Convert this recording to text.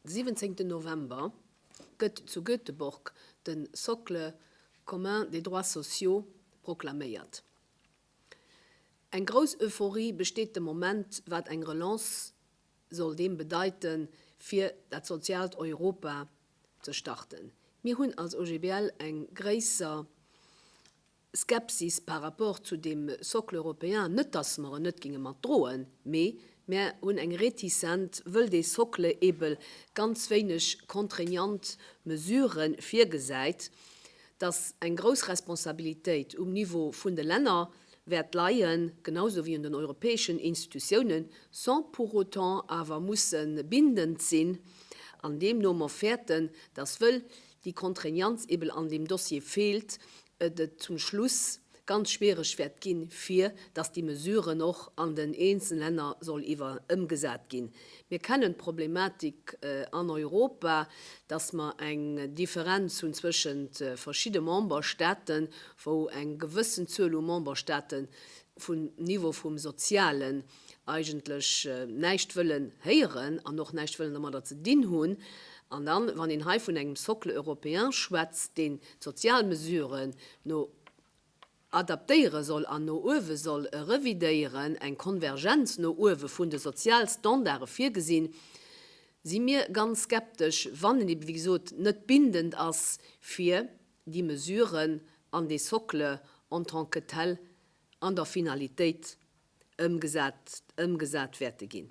De 17 November gëtt zu Göteborg de Socle commun des droits sociaux proklaméiert. Eng grouss Euphorie besteet de Moment, wat eng Relance soll deem bedeite fir dat soziaalt Europa ze starten. Mir hunn als OGBL eng gréisser. Skepsis par rapport zu deem Socle européen, net datt mer en net géinge mat droen, mee mär hunn eng Réticent, wëll dee Socle eebel ganz wéineg contraignant Mesurë virgesäit, datt eng grouss Responsabilitéit um Niveau vun de Länner wäert leien, genau sou wéi un den europäeschen Institutiounen, sans pour autant awer musse bindend sinn, an deemno mer fäerten, datt wëll déi Contraignanz eben an deem Dossier feelt, et zum Schluss ganz schwierig wäert ginn, fir dass déi Mesuren och an den eenzelnen Länner soll iwwer ëmgesat ginn. Mir kennen d'Problematik an Europa, dass mer eng Differenz hunn zwëschent verschidde Memberstaten, wou eng gewëssen Zuel u Memberstaten vum Niveau vum Sozialen, eigentlech näischt wëllen héieren an och näischt wëllen domadder ze dinn hunn. An dann, wann een hei vun engem Socle européen schwätzt, deen d'sozial Mesuren no adaptéiere soll an no uewe soll revidéieren, eng Konvergenz no uewe vun de Sozialstandarde virgesinn, si mir ganz skeptesch, wann en ebe wéi gesot net bindend ass, fir déi Mesuren an dee Socle en tant que tel an der Finalitéit ëmgesat ëmgesat wäerte ginn.